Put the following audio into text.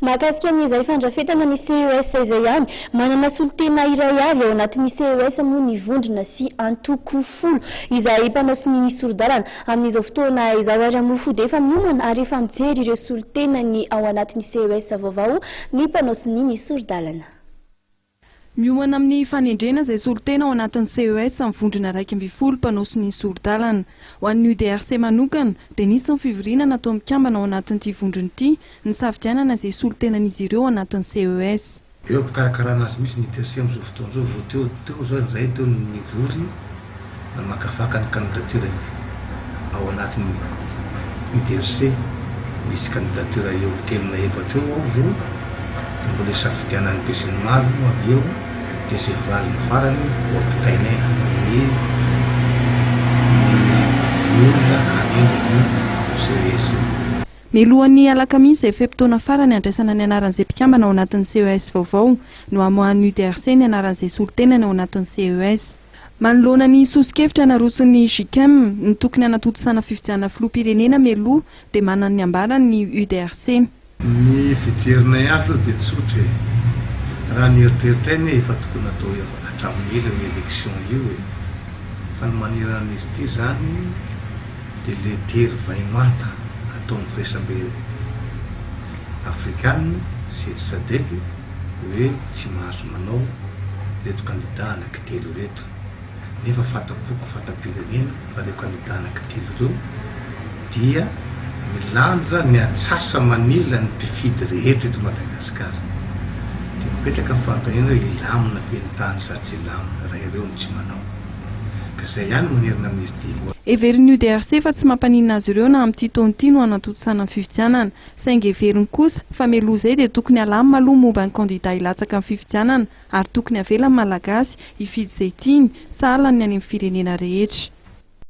Mahakasika ny izay fandrafetana ny CES izay ihany, manana solontena iray avy ao anatin'ny CES moa ny vondrona sy antoko folo izay mpanao sonia ny sori-dalana. Amin'izao fotoana izao ary moa fo dia efa miomana ary efa mijery ireo solontena ny ao anatin'ny CES vaovao ny mpanao sonia ny sori-dalana. Miomana amin'ny fanendrena izay solontena ao anatin'ny CES amin'ny vondrona iraika ambin'ny folo mpanao sonia sori-dalana. Ho an'ny UDRC manokana dia nisy ny fivoriana nataon'ny mpikambana ao anatin'ity vondrona ity nisafidianana izay solontenan'izy ireo ao anatin'ny CES. Eo am-pikarakarana azy mihitsy ny UDRC amin'izao fotoana izao. Vao teo teo izao indray teo no nivory. namakafaka ny kandidatioran'ny ao anatin'ny UDRC. Misy kandidatioran'ny eo amin'ny telo na efatra eo ao izao dia mbola isafidianan'ny besinimaro moa avy eo dia izay valiny farany ho ampitainay hanome ny olona hanendry ny CES. Mialohan'ny alakamisy izay fe-potoana farany handraisana ny anaran'izay mpikambana ao anatin'ny CES vaovao no hamoahan'ny UDRC ny anaran'izay solotenany ao anatin'ny CES. Manoloana ny soso-kevitra narotson'ny Gicem, ny tokony hanatontosana fifidianana filoham-pirenena mialoha dia manana ny ambarany ny UDRC. Ny fijerinay azy aloha dia tsotra e! Raha ny eritreritray anie efa tokony atao hatramin'ny ela io élection io e! Fa ny manerana an'izy ity izany dia lettery vay manta ataon'ny firaisambe afrikana sy sadec, hoe tsy mahazo manao ireto kandida anaky telo ireto nefa fatampoko fatam-pirenena fa ireo kandida anaky telo ireo dia milanja ny atsasa manila ny mpifidy rehetra eto Madagasikara dia mipetraka ny fanontaniana hoe hilamina ve ny tany sa tsy hilamina raha ireo no tsy manao ka izay ihany no manerana amin'izy ity Heverin'ny UDRC fa tsy mampaninona azy ireo na amin'ity taona ity no hanatontosana ny fifidianana. Saingy heveriny kosa fa mialoha izay dia tokony alamina aloha ny momba ny kandida hilatsaka amin'ny fifidianana ary tokony avela ny Malagasy hifidy izay tiany sahala ny any amin'ny firenena rehetra.